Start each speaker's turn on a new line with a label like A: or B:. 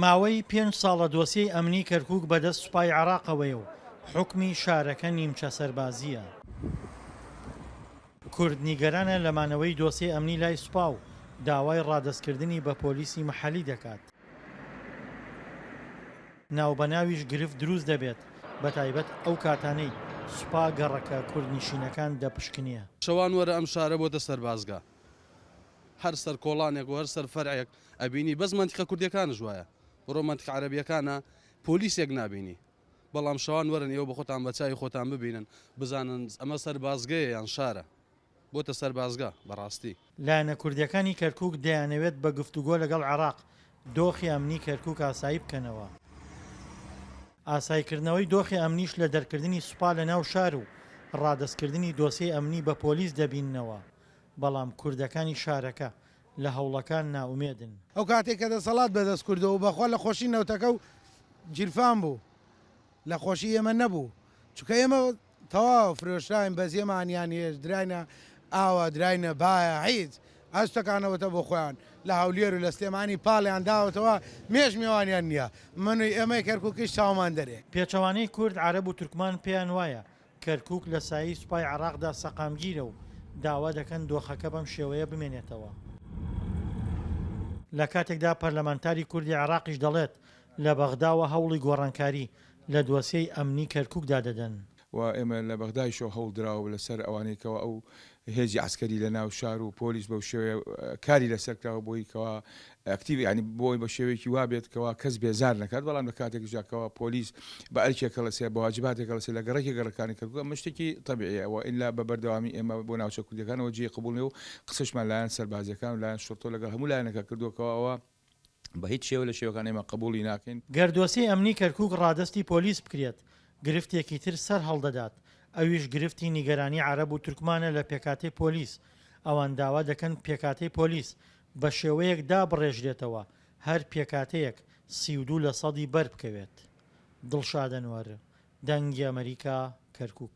A: ماوەی پێنج ساڵە دۆسیەی ئەمنی کەرکووک بەدەست سوپای عێراقەوەیە و حوکمی شارەکە نیمچە سەربازییە. کورد نیگەرانە لە مانەوەی دۆسیەی ئەمنی لای سوپا و داوای ڕادەستکردنی بە پۆلیسی مەحەلی دەکات. ناوبەناویش گرفت دروست دەبێت، بەتایبەت ئەو کاتانەی سوپا گەڕەکە کوردنشینەکان دەپشکنێ. شەوان وەرە ئەم
B: شارە بۆتە سەربازگە. هەر سەر کۆڵانێک و هەر سەر فەرعێک ئەبینی بەس مەنتیقە کوردیەکانش وایە بڕۆ مەنتیقە عەرەبیەکانە پۆلیسێک نابینی بەڵام شەوان وەرن ئێوە بە خۆتان بە چاوی خۆتان ببینن بزانن ئەمە سەربازگەیە یان شارە بۆتە سەربازگە بەڕاستی. لایەنە کوردیەکانی
A: کەرکوک دەیانەوێت بە گفتوگۆ لەگەڵ عێراق دۆخی ئەمنی کەرکوک ئاسایی بکەنەوە، ئاسایکردنەوەی دۆخی ئەمنیش لە دەرکردنی سوپا لە ناو شار و ڕادەستکردنی دۆسێی ئەمنی بە پۆلیس دەبیننەوە، بەڵام کوردەکانی شارەکە لە هەوڵەکان نائومێدن. ئەو کاتەی کە
C: دەسەڵات بە دەست کوردەوە بە خۆ لە خۆشی نەوتەکە و گیرفان بوو لە خۆشی ئێمە نەبوو چونکە ئێمە تەواو فرۆشراین بەس ئێمە ئانیان هێز دراینە ئاوە دراینە بایە هیچ ئەو شتەکانەوەتە بۆ خۆیان لە هەولێر و لە سلێمانی پاڵیان داوەتەوە مێش مێوانیان نییە من و ئێمەی کەرکووکیش چاومان دەرێ. پێچەوانەی کورد
A: عەرەب و تورکمان پێیان وایە کەرکووک لە سایەی سوپای عێراقدا سەقامگیرە و داوا دەکەن دۆخەکە بەم شێوەیە بمێنێتەوە. لە کاتێکدا پەرلەمانتاری کوردی عێراقیش دەڵێت، لە بەغداوە هەوڵی گۆڕانکاری لە دۆسیەی ئەمنی کەرکووکدا دەدەن. و ئێمە لە
D: بەغدایشەوە هەوڵ دراوە لەسەر ئەوانەی کەوا ئەو هێزی عەسکەری لە ناو شار و پۆلیس بەو شێوەیە کاری لەسەر کراوە بۆی کەوا ئەکتیڤ یانی بۆ ئەوەی بە شێوەیەکی وا بێت کەوا کەس بێزار نەکات، بەڵام لە کاتێکیشدا کەوا پۆلیس بە ئەرکێک هەڵەسێ، بە واجباتێک هەڵەسێ لە گەڕەکێک گەڕەکانی کەرکووک ئەمە شتێکی تەبیعییە و ئیلا بە بەردەوامی ئێمە بۆ ناوچە کوردییەکانەوە جێی قبووڵ نییە و قسەشمان لایەن سەربازییەکان و لایەن شوڕتە و لەگەڵ هەموو لایەنەکە کردووە کەوا ئەوە بە هیچ شێوە لە شێوەکان ئێمە قبووڵی ناکەین. گەر دۆسێی ئەمنی
A: کەرکووک ڕادەستی پۆلیس بکرێت گرفتێکی تر سەر هەڵدەدات ئەویش گرفتی نیگەرانی عەرەب و تورکمانە لە پێکاتەی پۆلیس، ئەوان داوا دەکەن پێکاتەی پۆلیس بە شێوەیەک دابڕێژرێتەوە هەر پێکهاتەیەک سی و دوو لە سەدی بەر بکەوێت. دڵشاد ئەنوەر، دەنگی ئەمەریکا، کەرکووک.